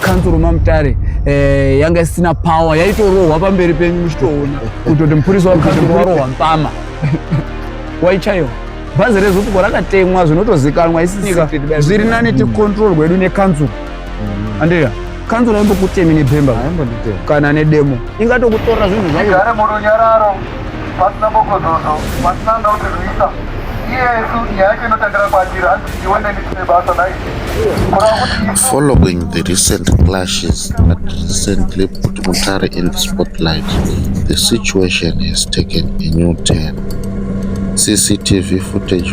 kanzuru mamutare eh, yanga isina power yaitorohwa pamberi penyu muchitoona kutoti mupurisa wakanzuru warohwa mpama waichaiwa bhazi rezupuko rakatemwa zvinotozikanwa isinyika zviri nani ticontrol gwedu nekanzuru mm. andika kanzuru aimbokutemi nebhemba kana nedemo ingatokutora zvinhu zvaigare murunyararo pasina bokozozo pasina anga utirwisa iyesu nyaya yacho inotangira kwatiri hanzi iwe neni tine basa nai Following the recent clashes that recently put Mutare in the spotlight, the situation has taken a new turn. CCTV footage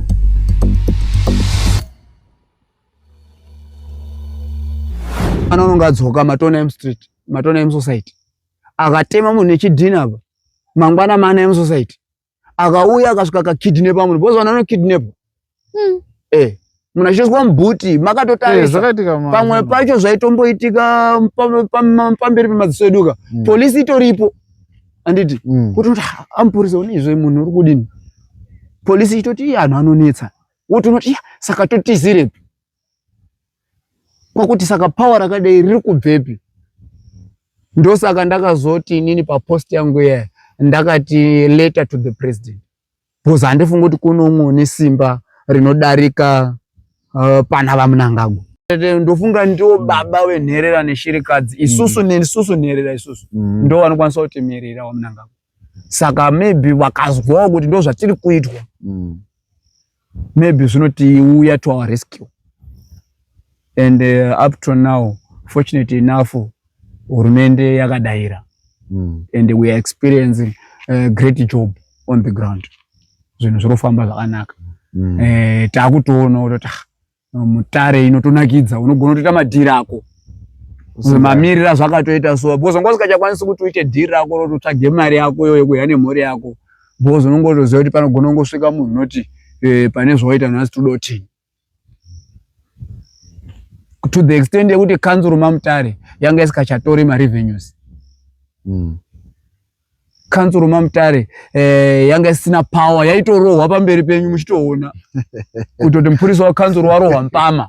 Ana unonga adzoka matona emu street, matona emu society. Akatema munhu nechidhina apa. Mangwana mana emu society. Akauya akasvika akakidnapa munhu. Bozo vanono kidnap. Hmm. Eh. Munhu achizwa mbuti makatotarisa. Eh, Pamwe pacho zvaitomboitika pamberi pemadziso eduka. Hmm. Police itoripo. anditi mm. kutoti amupurisa une izvo munhu uri kudini polisi itoti iye anhu anonetsa wotonoti iya saka totizirepi kwakuti saka power rakadai riri kubvepi ndosaka ndakazoti inini papost yangu iyaya ndakati letter to the president because handifungi kuti kune umwe une simba rinodarika uh, pana vamunangagwa ndofunga ndiwo mm. baba venherera neshirikadzi mm. isusu nesusu nherera isusu mm. ndo vanokwanisa kutimirira wamunangagwa saka maybe vakazwawo kuti ndo zvatiri kuitwa maybe zvinotiuya to our rescue and uh, up to now fortunately enough hurumende yakadaira mm. and we are experiencing uh, great job on the ground zvinhu zviri kufamba zvakanaka mm. eh, takutoona kutoti ah, mutare inotonakidza unogona kutoita madhiri ako mamirira zvakatoita so bcause unga usikachakwanisi kuti uite dhiri rako roti utsvage mari yako iyo yekuya nemhuri yako bcause unongotoziva kuti panogona kungosvika munhu unoti eh, pane zvawaita nhasi todotini to the extent yekuti kanzuru mamutare yanga isikachatori marevenues mm. kanzuru mamutare eh, yanga isina power yaitorohwa pamberi penyu muchitoona kutoti mupurisa wakanzuru warohwa mpama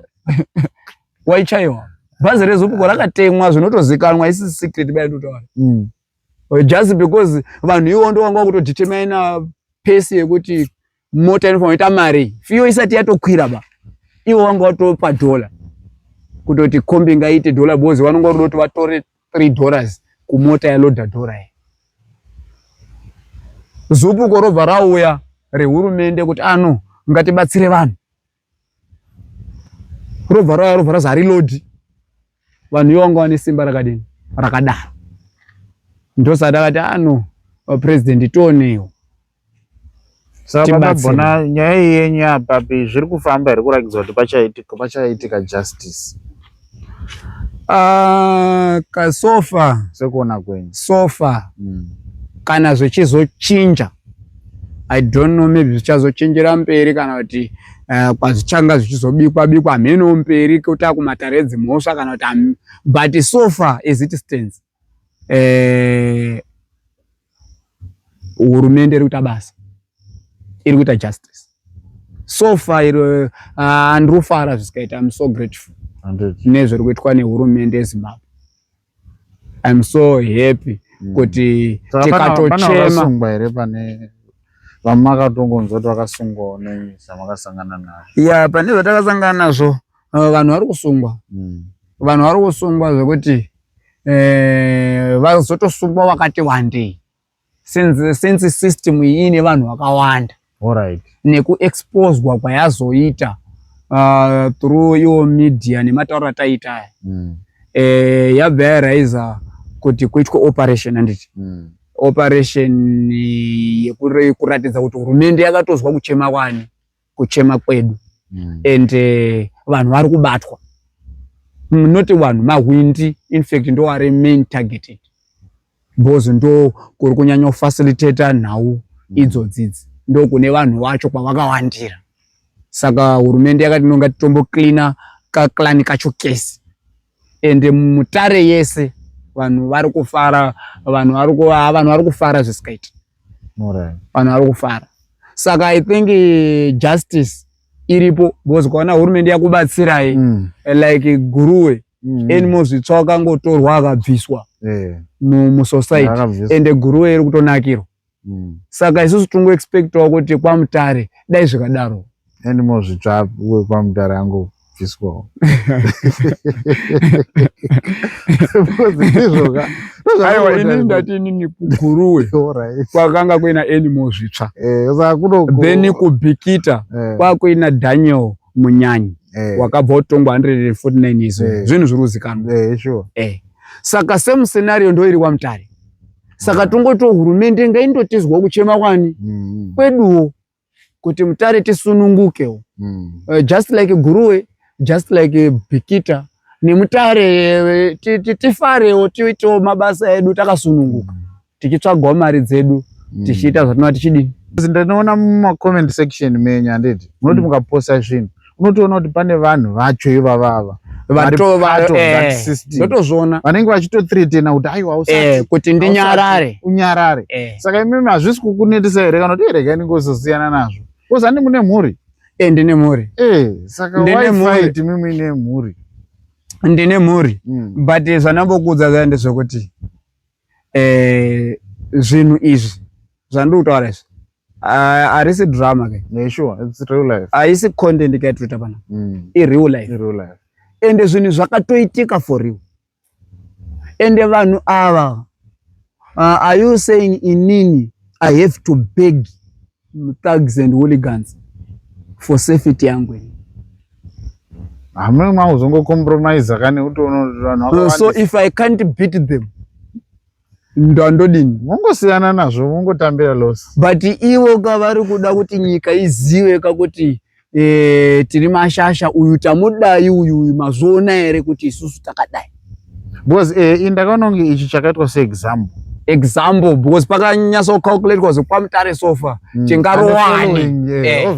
waichaiwa bhazi rezupuko rakatemwa zvinotozikanwa isi secret baitotaura mm. just because vanhu ivo ndo vanga vakutodhitemaina pesi yekuti mota inofanira kuita mari fiyo isati yatokwira ba ivo vanga vatopa dhola kutoti kombi ngaite dhola bozi vanonga vatoda kuti vatore three dollars kumota yaloda dhora iyi zupuko robva rauya rehurumende kuti ano ah, ngatibatsire vanhu robva rauya robva razi harilodhi vanhu ivo vanga vane simba rakadini rakadaro ndosati akati ano ah, vapurezidendi tionewo sakabagona nyaya iyi yenyu apapi zviri kufamba here kurakidza kuti pachaitika pachaitika justice Uh, kasofa sekuona kwenyu sofa mm. kana zvichizochinja i don't know maybe zvichazochinjira mberi kana kuti uh, kwazvichanga zvichizobikwa bikwa mheno mberi kuta kumatare edzimhosva kana kuti but sofa is it stands eh, hurumende iri kuita basa, iri kuita justice so far iro ah, andirufara zvisikaita im so grateful nezviri kuitwa nehurumende yezimbabwe im so happy mm. kuti tikatochema here pane vamakatongonzwa kuti vakasungwawo nei zvamakasangana nazvo ya pane zvatakasangana nazvo eh, vanhu vari kusungwa mm. vanhu vari kusungwa zvekuti eh, vazotosungwa vakati wandei since, since system iyi ine vanhu vakawanda right. nekuexposwa kwayazoita uh, through iwo media nematauro ataita aya mm. eh, yabva yaraiza kuti kuitwa operation handiti mm. operation yekuratidza kuti hurumende yakatozwa kuchema kwani kuchema kwedu mm. and uh, vanhu vari kubatwa not vanhu mahwindi infact ndo ari main targeted because ndo kuri kunyanya kufacilitata nhau mm. idzodzidzi ndo kune vanhu vacho kwavakawandira saka hurumende yakati nonga titombo cleana kaclani kacho kese ende mutare yese vanhu vari kufara vanhu vari vanhu vari kufara zvisikaiti vanhu vari kufara saka i think eh, justice iripo because kwaona hurumende yakubatsirai mm. Eh, like guruwe mm. enimo zvitsva akangotorwa akabviswa eh. musosaiti ende guruwe iri kutonakirwa mm. saka isusu tingo expectawo kuti kwamutare dai zvikadaro and mozvitsva kwamutare ango bviswawo ndizvoka aiwa ini ndati inini kuguruwe kwakanga kuina animo zvitsva eh, then kubhikita eh. kwakuina daniel munyanyi eh. wakabva utongwa 149 izvo zvinhu zviri kuzikanwa saka same scenario ndoiri wamutare saka tongotiwo hurumende ngaindotizwa kuchema kwani mm. kweduwo kuti mutare tisunungukewo mm. uh, just like guruwe just like bikita nemutare eh, tifarewo tiitewo mabasa edu takasununguka mm. tichitsvagawo mari dzedu mm. tichiita zvatinova tichidini ndinoona mumacoment section menyu handiti munoti mm. mukaposta zvinhu unotoona kuti pane vanhu vacho ivavava vatotozviona eh, vanenge vachitothretena kuti aiwa usati eh, kuti ndinyarare unyarare eh. saka imimi hazvisi kukunetisa here kana kuti iregai ninge uzosiyana nazvo kozi andi mune mhuri e ndine mhuri e saka waifai timimi ine mhuri ndine mhuri hmm. but zvanambokuudza zvaende zvekuti eh, zvinhu izvi zvandiri kutaura izvi harisi drama ke haisi content ke yatiri kuita pana mm. ireal life ende zvinhu zvakatoitika for you ende vanhu ava uh, are you saying inini i have to beg thugs and hooligans for safety yangu ini hamuna makuzongocompromise kani utoona so if i can't beat them ndandodini mongosiyana nazvo mongotambira loss but ivo ka vari kuda kuti nyika izive ka kuti e, tiri mashasha uyu tamudai uyu uyu mazviona here kuti isusu takadai because e, eh, ndakanonge ichi chakaitwa seexample example because pakanyasa kucalculatwa zvekwamutare sofa mm. tingarowani eh,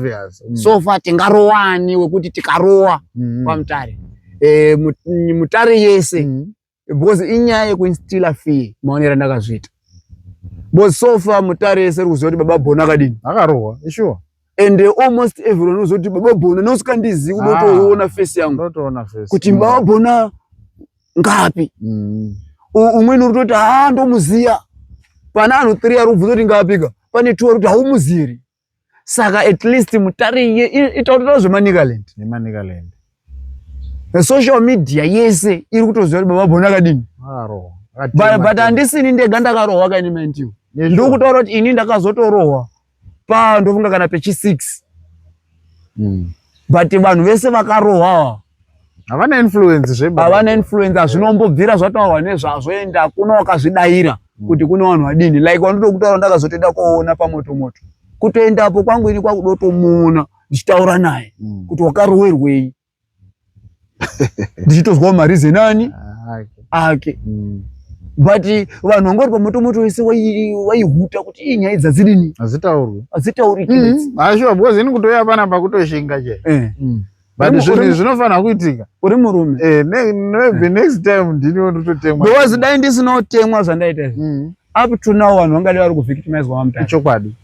mm. sofa tingarowani wekuti tikarowa mm. kwamutare e, mutare yese mm. because inyaya yekuinstila fee maonera ndakazviita because so far mutare yese iri kuziva kuti baba bhona akadini akarohwa ishuwa and uh, almost everyone unoziva kuti baba bhona neusikandizivi kuda ah, kutoona face yangu kuti baba bhona ngapi mm. umweni uri toti haa ah, ndomuziya pane anhu three ari kubvunza kuti ngapika pane two ari kuti haumuzivi saka at least mutariye itaurira zvemanicaland nemanicaland social media yese iri kutoziva kuti baba bhoni akadini but handisini ndega ndakarohwa kaini mandiwo ndiri kutaura kuti ini ndakazotorohwa pa ndofunga kana pechi six hmm. but vanhu vese vakarohwawa havana influence zve havana influence hazvinombobvira zvataurwa nezvazvo ende hakuna wakazvidaira mm. kuti kune vanhu vadini like wandotokutaura ndakazotoenda koona pamoto moto kutoendapo kwangu ini kwakudotomuona ndichitaura naye mm. kuti wakarowerwei ndichitozwawo marizeni ani ah, ake mm. but vanhu vangori pamoto moto wese waihuta kuti ii nyaya dzadzirini hadzitaurwi hadzitauriki ashuwa because ini kutoya pana pakutoshinga che eh. but zvinhu zvinofanira kuitika uri murume eh, the next time ndiniwo ndototemwa because dai ndisinotemwa zvandaita izvi mm. up to now vanhu vangadi vari kuvictimizwa vamutare ichokwadi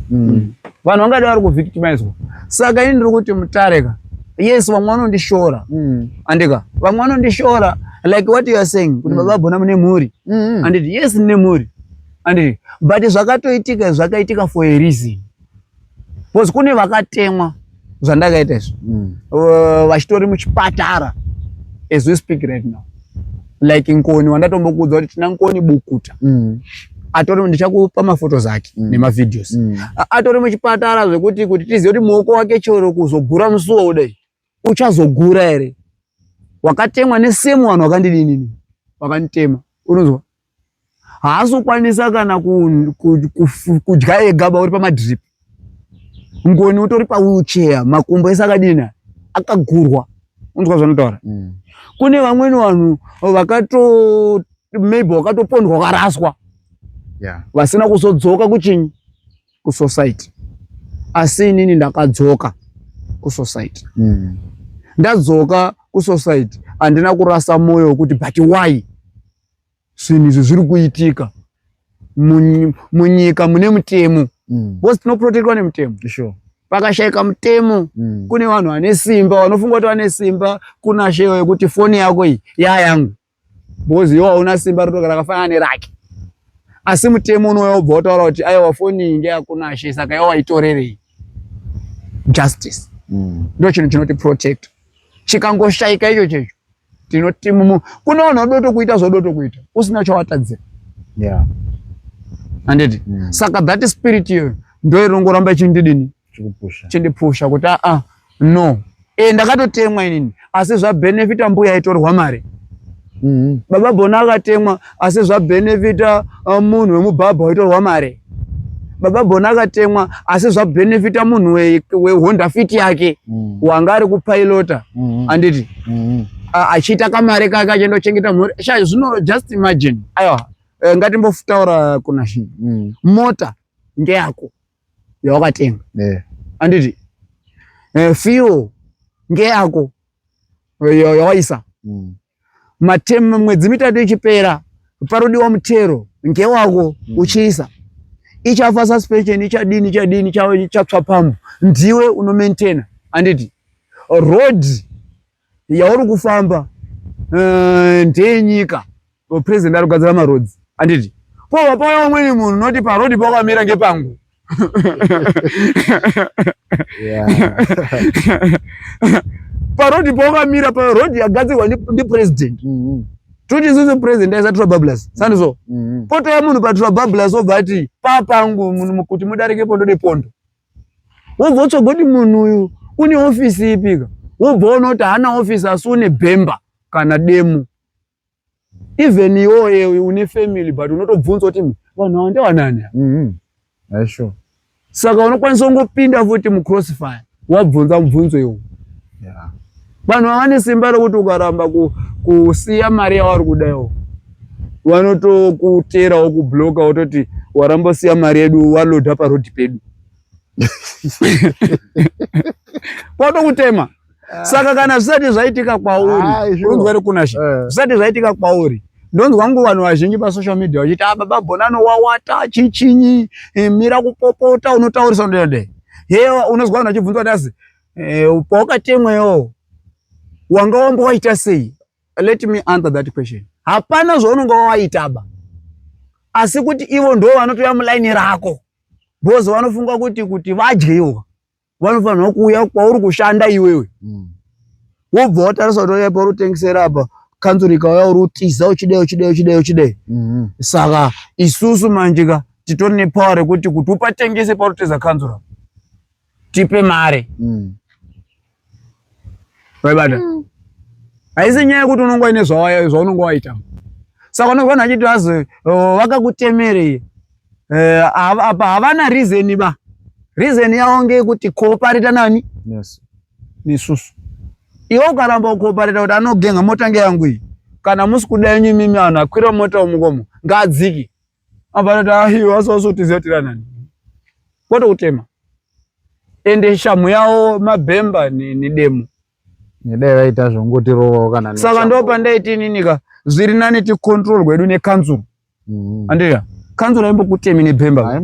mm. mm. vanhu vangadi vari kuvictimizwa saka ini ndiri kuti mutare ka yes vamwe vanondishora andika vamwe vanondishora like what you are saying kuti baba bona mune mhuri anditi yes ndine mhuri anditi but zvakatoitika zvakaitika for a reason bcause kune vakatemwa zvandakaita izvo mm. uh, vachitori mm. uh, muchipatara as we speak right now like nkoni wandatombokuudza kuti tina nkoni bukuta mm. atori ndichakupa mafotos ake mm. nemavideos mm. atori muchipatara zvekuti kuti tizive kuti muoko wake chero kuzogura musuwo kudai uchazogura here wakatemwa nesemu vanhu vakandidinini vakanditema unonzwa haazokwanisa kana kudya ega bauri pamadrip ngoni utori pawheelchair makumbo ese akadina akagurwa unzwa zvanotaura mm. kune vamweni vanhu vakato maybe wakatopondwa ukaraswa vasina kuzodzoka kuchinyi kusociety asi inini ndakadzoka kusociety mm. ndadzoka kusociety handina kurasa mwoyo wekuti but why zvinhu izvi zviri kuitika munyika mune mutemo mm. bcause tinoprotektwa nemutemo sure pakashaika mutemo mm. kune vanhu vane simba vanofunga kuti vane simba kuna shewe kuti foni yako iyi yayangu because iwe hauna simba rotoka rakafanana nerake asi mutemo unouya ubva wataura kuti aiwa foni iyi ndeyakunashe saka iwe waitorerei justice mm. ndo chinhu chinoti protect chikangoshaika icho checho tinoti mumu kune vanhu vadoto kuita zvodoto kuita usina chawatadzira yeah. anditi mm. saka that spirit iyoyo ndo irongoramba ichindidini chindipusha kuti aa ah, no e, ndakatotemwa inini asi zvabenefita mbuya itorwa mari mm -hmm. baba bona akatemwa asi zvabenefita uh, munhu wemubhabha waitorwa mari baba bona akatemwa asi zvabenefita munhu wehonda fit yake mm. wanga ari kupilota mm -hmm. anditi mm -hmm. achiita kamari kake achindochengeta mhuri sha zvino just imagine aiwa eh, ngatimbotaura kuna shi mm. mota ngeyako yawakatenga yeah. anditi eh, fio ngeyako yawaisa mm. matemu mwedzi mitatu ichipera parodiwa mutero ngewako mm. uchiisa ichafa suspension ichadini ichadini chatswa pambo ndiwe unomaintaina anditi road yauri kufamba eh, ndeyenyika president ari kugadzira marodzi anditi pova paya umweni munhu noti parodi pakamira ngepangu parodi pakamira parodi yagadzirwa ndipresident mm-hmm. toti isusu president aisa trabablas sani so mm-hmm. potaya munhu patrabablas obva ati papangu kuti mudarike pondo nepondo wobva wotsvaga kuti munhu uyu une ofisi ipika wobva ona kuti haana ofisi asi une bhemba kana demo even iwoye uyu une family but unotobvunza kuti vanhu awa ndewanani mm-hmm. sure. saka unokwanisa kungopinda futi mucrossfire wabvunza mubvunzo iwo yeah. Vanhu ava vane simba rokuti ukaramba kusiya mari yavari kuda iwo vanotokuterawo kubloka wototi waramba usiya mari yedu waloda parodi pedu kwatokutema ah. saka kana zvisati zvaitika kwauri ah, unzwere kunashe eh. zvisati zvaitika kwauri ndonzwa ngo vanhu vazhinji pasocial media vachiti ah, baba bonano wawata chichinyi eh, mira kupopota unotaurisa ndode hewa unonzwa vanhu vachibvunza kuti asi Eh, pawakatemwa iwowo wanga wamba waita sei? Let me answer that question. Hapana zvaunonga wawaitaba, asi kuti ivo ndo vanotouya mulaini rako because vanofunga kuti kuti vadye ivo vanofanirwa kuuya kwauri kushanda iwewe mm. wobva watarisa kuti oya pauri kutengesera apa kanzuru ikauya uri utiza uchidei uchidei uchidei uchidei mm-hmm. saka isusu manjika titori nepower rekuti kuti upatengese pauri kuteza kanzuru apa tipe mare mm. vaibata mm. haisi nyaya yekuti unonga ine zvaunonga waita saka unonga vanhu vachiti vazi oh, vakakutemerei eh, apa havana reason ba reason yavo ngeyekuti koopareta nani yes. nesusu iwe ukaramba ukoopareta kuti anogenga mota ngeyangu iyi kana musi kuda yenyu imimi vanhu akwira mota umukomo ngaadziki abarati ahiyo asosotizotirana kwete kutema ende shamhu yawo mabhemba nedemo nedai vaita zvongotirovawo kana saka ndo pandaiti ininika zviri nani ticontrol gwedu nekanzuru mm-hmm. andiya kanzuru aimbokutemi nebhemba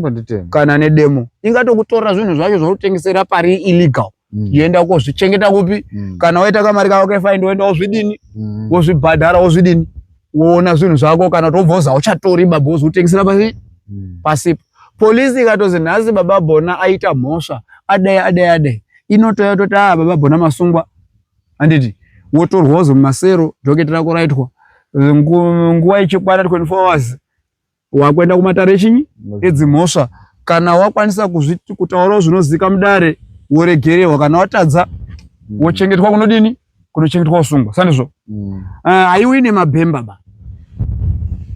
kana nedemo ingatokutora zvinhu zvacho zvautengesera pari illegal mm. yoenda ukozvichengeta kupi mm. kana waita kamari kako kefaindi woenda wozvidini mm. wozvibhadhara wozvidini woona zvinhu zvako kana kuti wobva uza uchatori baba wozotengesera pasi mm. pasipo polisi ikatozi nhasi baba bona aita mhosva adai adai adai inotouya toti a ah, baba bona masungwa handiti wotorwa wozomumasero doketi rako raitwa nguva ichikwana 24 hours wakuenda kumatare chinyi edzimhosva kana wakwanisa kuzviti kutaurawo zvinozika mudare woregererwa kana watadza mm. wochengetwa kunodini kunochengetwa usungwa sandizvo mm. uh, eh, aiwi nemabhemba ba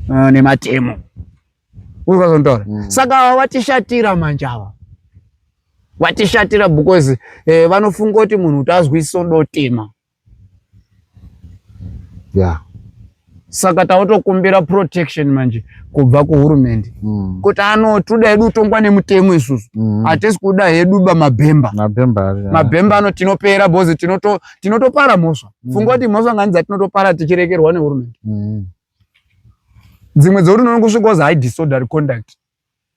uh, nematemo ukazotaura mm. saka vatishatira manje ava vatishatira because eh, vanofunga kuti munhu utazwisiso dotema yeah. saka tautokumbira protection manje kubva kuhurumende mm. kuti ano toda hedu kutongwa nemutemo isusu mm. hatisi mm. kuda hedu ba mabhemba mabhemba ano tinopera bozi tinotopara tinoto mhosva mm. funga kuti mhosva ngani dzatinotopara tichirekerwa nehurumende mm. dzimwe dzekuti unoona kusvika ozi hai disordery conduct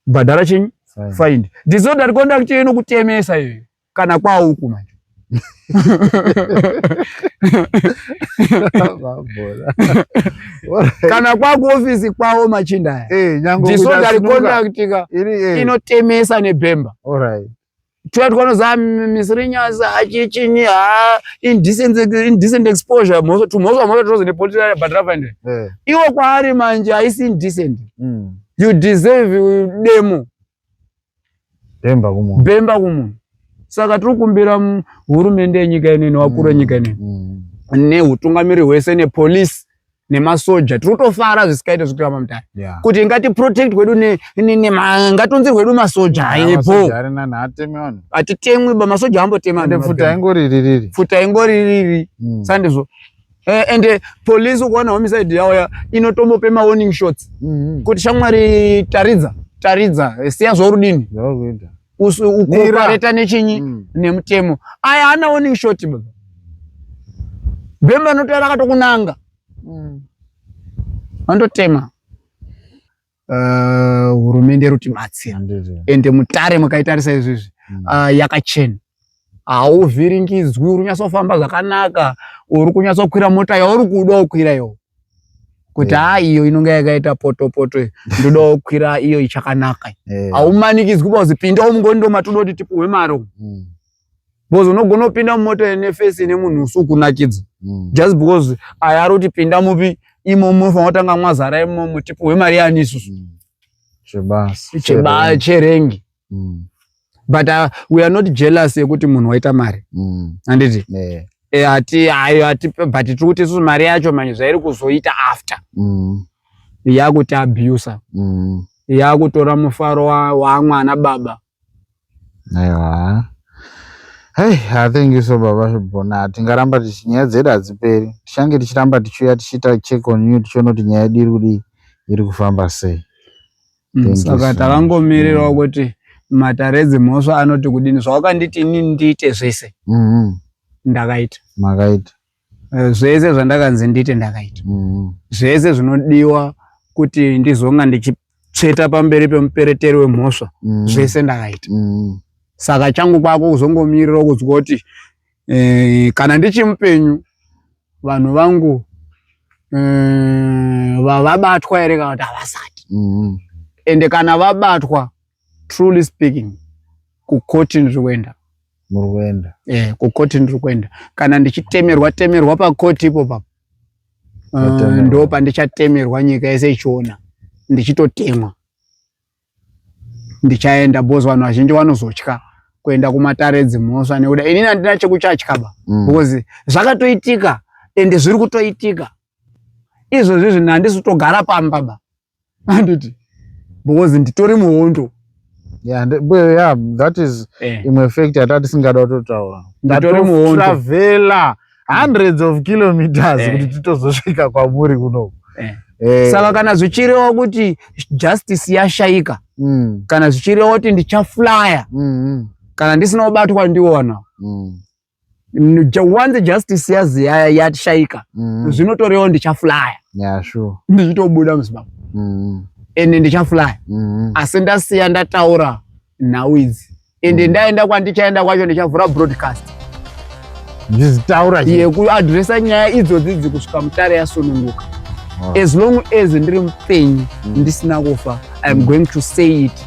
bhadhara chenyu find disordery conduct iyo inokutemesa iyoyo kana kwauku manje kana kwakuofisi kwavo machinda aya eh, ndisoda rikonaktika eh. inotemesa nebhemba tiya tikanoza misirinyasi achichinyi ha indecent exposure tumhosva mhosva tinozi nepotiabatrafande eh. iwo kwaari manje haisi indecent hmm. you deserve demo bemba kumunhu bemba kumunhu saka tiri kumbira hurumende yenyika inene wakuru wenyika mm, inene mm. neutungamiri hwese nepolice nemasoja tiri kutofara zvisikaite zvekuita mamutare yeah. kuti ngatiprotect wedu ngatonzirwe wedu masoja ayepo hatitemwi ba masoja ambotemapfuta ingori ririri mm. sandizvo Eh, and eh, police ukaona homicide yauya inotombope mawarning shots mhm. kuti shamwari taridza taridza eh, siya zvaurudini ukopareta nechinyi mm. nemutemo aya hana warning shot baba bhemba anotoya rakatokunanga mm. andotema uh, hurumende ruti matsi ende mutare mukaitarisa izvizvi mm. uh, yakachena hauvhiringidzwi uri kunyatsofamba zvakanaka uri kunyatsokwira mota yauri kuda ukwira yo kuti haa eh. iyo inonga yakaita potopoto ndoda ukwira iyo ichakanaka eh. haumanikidzwi bazi pinda umngoni ndomatoda kuti tipuhwe maro mm. because unogona kupinda mumota ine face ine munhu usi ukunakidza mm. just because aya ari kuti pinda mupi imomo munofanira kutanga mwazara imomo tipuhwe mari yani isusu mm. chebasa chebasa cherengi mm. but uh, we are not jealous yekuti munhu waita mari mm. anditi yeah. Eh, hati ayo hati but tiri kuti isusu mari yacho manje zvairi kuzoita after mm. yakuti abusa mm. yakutora mufaro wamwana wa baba aiwa Hey, I thank you so baba Shibona. Tingaramba tichi nyaya dzedu hadziperi. Tichange tichiramba tichiuya tichiita check on you tichiona kuti nyaya yedu iri kudii iri kufamba sei. Mm, Thank you saka so much. takangomirirawo Mm. kuti matare dzemhosva anoti kudini zvawakanditi inini ndiite zvese Mhm. ndakaita Makaita. Eh, zvese zvandakanzi ndiite ndakaita mm. zvese zvinodiwa kuti ndizonga ndichitsveta pamberi pemupereteri wemhosva mm. zvese ndakaita mm. saka changu kwako kuzongomirira kunzwa kuti eh, kana ndichimupenyu vanhu vangu eh, vavabatwa here kana kuti havasati mm. ende kana vabatwa truly speaking kukoti ndiri kuenda muri kuenda eh kukoti ndiri kuenda kana ndichitemerwa temerwa pakoti ipo papo uh, ndo pandichatemerwa nyika yese ichiona ndichitotemwa ndichaenda bhozi vanhu vazhinji vanozotya kuenda kumatare dzimhosva nekuda inini handina chekuchatya ba mm. because zvakatoitika ende zviri kutoitika izvozvi zvinhu handisi kutogara pamba ba handiti because nditori muhondo yeah, yeah, that is eh. imwe fact yatati singada kutotaura nditori muhondo travela hundreds of kilometers eh. kuti eh. titozosvika kwamuri kunoku eh. Eh. saka kana zvichirewa kuti justice yashaika mm. kana zvichirewa kuti ndichaflya mm -hmm. kana ndisina kubatwa ndiona mm. once justice yazi yashaika mm. zvinotorewo ndichaflaya yeah, sure. ndichitobuda muzimbabwe mm. ende ndichaflaya mm. asi ndasiya ndataura nhau idzi ende mm. ndaenda kwandichaenda kwacho ndichavhura broadcast ndizitaura yekuadresa nyaya idzodzi dzi kusvika mutare yasununguka as long as ndiri mupenyu mm. ndisina kufa iam mm. going to say it